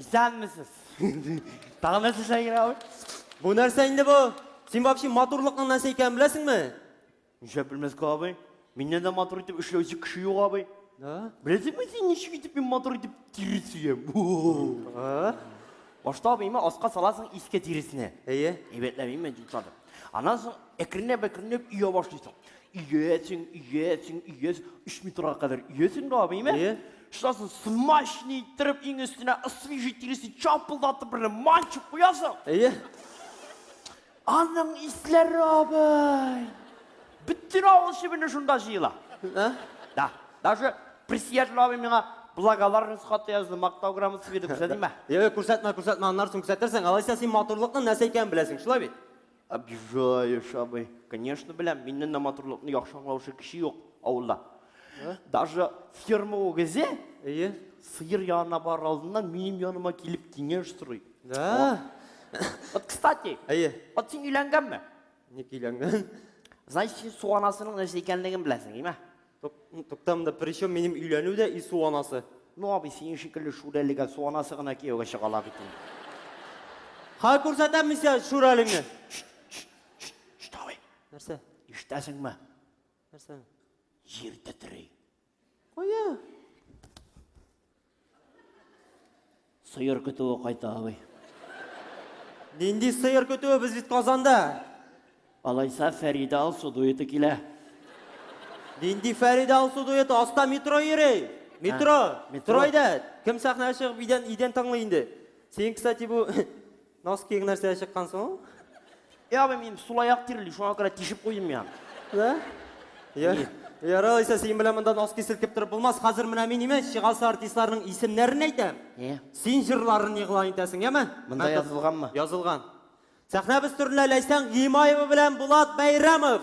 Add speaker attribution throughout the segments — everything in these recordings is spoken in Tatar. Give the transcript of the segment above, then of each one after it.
Speaker 1: Исәнмесез. Тагын нәрсә эшләргә ул? Бу нәрсә инде бу? Син вообще матурлыкның нәрсә икәнен беләсеңме? Ничә белмәскә абый? Миннән дә матур итеп эшләүче кеше юк абый. Да? Беләсеңме син ничек итеп мин матур итеп тире сөям? А? Башта абыйма аска саласың иске тиресенә. Әйе. Әйбәтләп имә дип салып. Аннан соң әкренләп әкренләп өя башлыйсың. Өйәсең, өйәсең, өйәс, өч метрга кадәр өйәсең дә абыйме? Әйе. Шуннан смачный иттереп иң өстенә свежий тиресе чапылдатып берле манчып куясың. Әйе. Аның исләре абый. Бөтен авыл чебене шунда җыела. Ә? Да. Даже председатель абый миңа благодарность хаты язды, мактау грамотасы бирде, күрсәтимме? Йә, күрсәтмә, күрсәтмә, аннары соң күрсәтерсең. Алайса син матурлыкның нәрсә икәнен беләсең, шулай бит? Обижаешь, абый. Конечно, беләм, миннән дә матурлыкны яхшы аңлаучы кеше юк авылда. Даже ферма үгезе Әйе. сыер янына барыр алдыннан минем яныма килеп киңәш сорый. Да. Вот, кстати, Әйе. вот син өйләнгәнме? Ник өйләнгән? Значит, син суанасының нәрсә икәнлеген беләсең, име? Тук, тукта монда причем минем өйләнү дә и су анасы. Ну абый, синең шикелле шүрәлегә су анасы гына кияүгә чыга ла бит инде. Ха күрсәтәм мин сиңа шүрәлеңне. Штавый. Нәрсә? Иштәсеңме? Нәрсә? Җир тетри. Кая? Сыер көтүе кайта, абый. Нинди сыер көтүе, без бит Казанда. Алайса Фәридә Алсу дуэты килә. Нинди Фәридә Алсу дуэты, аста метро йөри. Метро, метро. Стройда. Кем сәхнәгә чыгып идән, идән тыңлый инде? Син, кстати, бу Носкиң нәрсә чыккан соң? Е, абый, мин сулаяк тирли, шуңа күрә тишеп куйдым я. Да? Я. Ярал исә син белән монда носки селкеп торып булмас. Хәзер менә мин имеш, чыгасы артистларның исемнәрен әйтәм. Е. Син җырларын игълан итәсең, яме? Монда язылганмы? Язылган. Сәхнәбез түренә Ләйсән Гыймаева белән Булат Бәйрәмов.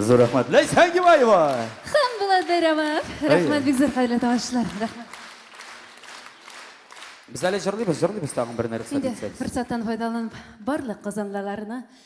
Speaker 1: Зур рәхмәт. Ләйсән Гибаева. Хан Булатберова. Рәхмәт бик зур хәерле тавышлар. Рәхмәт. Без әле җырлыйбыз, җырлыйбыз тагын бер нәрсә Инде дисәгез. форсаттан файдаланып барлык казанлыларны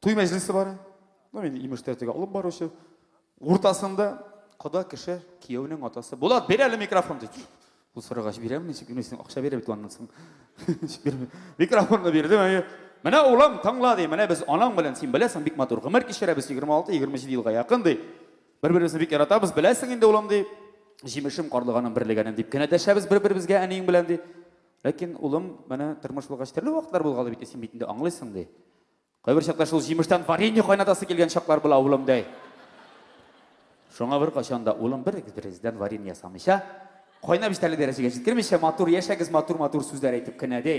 Speaker 1: Туй мәҗлесе бар. Ну, мин имеш тәртиге алып баручы. Уртасында кода кеше, кияүнең атасы. Булат, бир әле микрофон ди. Бу сырыгач бирәм, ничек генә син акча бирә бит аннан соң. Микрофонны бирдем, әйе. Менә улым, тыңла ди. Менә без анаң белән син беләсең, бик матур гомер кичерәбез 26-27 елга якын ди. Бер-беребезне бик яратабыз, беләсең инде улым ди. Җимешем карлыганым берлегәнем дип кенә дәшәбез бер-беребезгә әниең белән ди. Ләкин улым, менә тормыш булгач төрле вакытлар булгалы бит, син бит инде аңлыйсың ди. Кайбер чакта шул җимештән варенье кайнатасы килгән чаклар була, улым, ди. Шуңа бер качан да улым бер берегездән варенье ясамыйча, кайнап җитәрлек дәрәҗәгә җиткермичә, матур яшәгез, матур-матур сүзләр әйтеп кенә, ди.